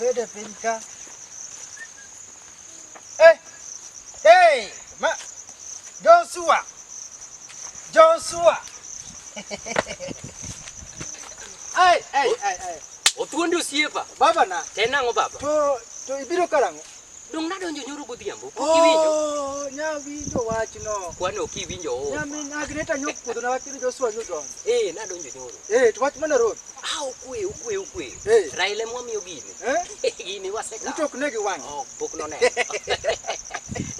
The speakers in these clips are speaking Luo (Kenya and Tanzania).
Bede piny ka. Hey! Hey! Ma! Joshua! Joshua! Ai, ai, ai, ai. Otuondi osiepa. Baba na. Tena ngo baba. To to ibiro karang'o? Dong nadonjo nyoro godhiambo. Pok oh, iwinjo. Oh, nya winjo wachno. Kwani ok iwinjo. Oh. Nya min Agneta nyok puodho na wachno Joshua Newton. Eh, nadonjo nyoro. Eh, to wach mana road. Ah, okwe, okwe, okwe. Eh. Raila mwa miyo gini. Eh? Gini waseka. Utok ne gi wang. Oh, pok no ne.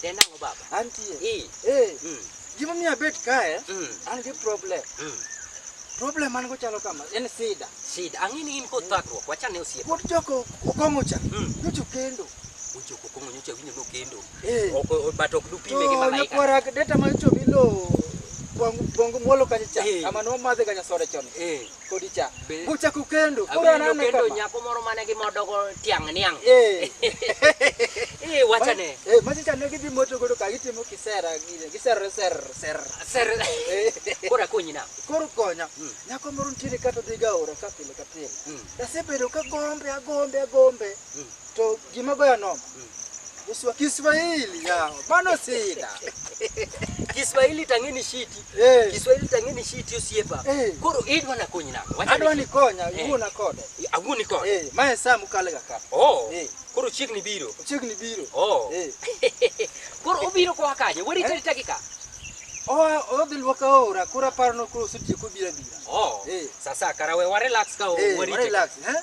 Denango baba. Antie. Eh. Eh. Mm. Gima miyo abet kae, Mm. an gi problem. Mm. Problem an go chalo kama, en sida. Shida, ang'e ni in kod thagruok, wachane osiep. Pod joko okong'o cha, Mm. nyocho kendo. Ojoko kong'o nyocha winyo nokendo. Eh. Ok, o- but ok dupime gi To malaika. nyakwara deta ma nyocho bilo bongo bongo mwolo kacha cha, Eh. ama no madhe kanya sore chon. Eh. Kodi cha. Be- Bucha kukendo. Koro Awinjo anane kendo kama. nyako moro mane gi modogo tiang' niang'. Eh. Eh, wachane. Eh, machi cha ne gidhi moto godo ka gitimo kisera gine. Giser ser ser. Ser. Eh. Koro akonyi na. Koro konya. Mm. Nyako moro nitiere kata dhiga ora ka pile ka pile. Mm. Asebedo ka gombe agombe agombe. Mm. To gima goya nono. Uswa Kiswahili yao. Mano sida. Kiswahili tang'eni shiti. Eh. Kiswahili tang'eni shiti osiepa. Eh. Koro idwa na konyi nako. Adwa ni konya, eh. uona kode. Aguni kode. Eh, mae saa mukalega ka. Oh. Eh. Koro chiegni biro. Chiegni biro. Oh. Eh. Koro obiro kwa kaje. Weri eh? tari ka. Oh, odhi luoka ora, kura parno kuro sutieko bira bira. Oh. Eh. Sasa karawe wa relax ka o. Eh, relax, eh?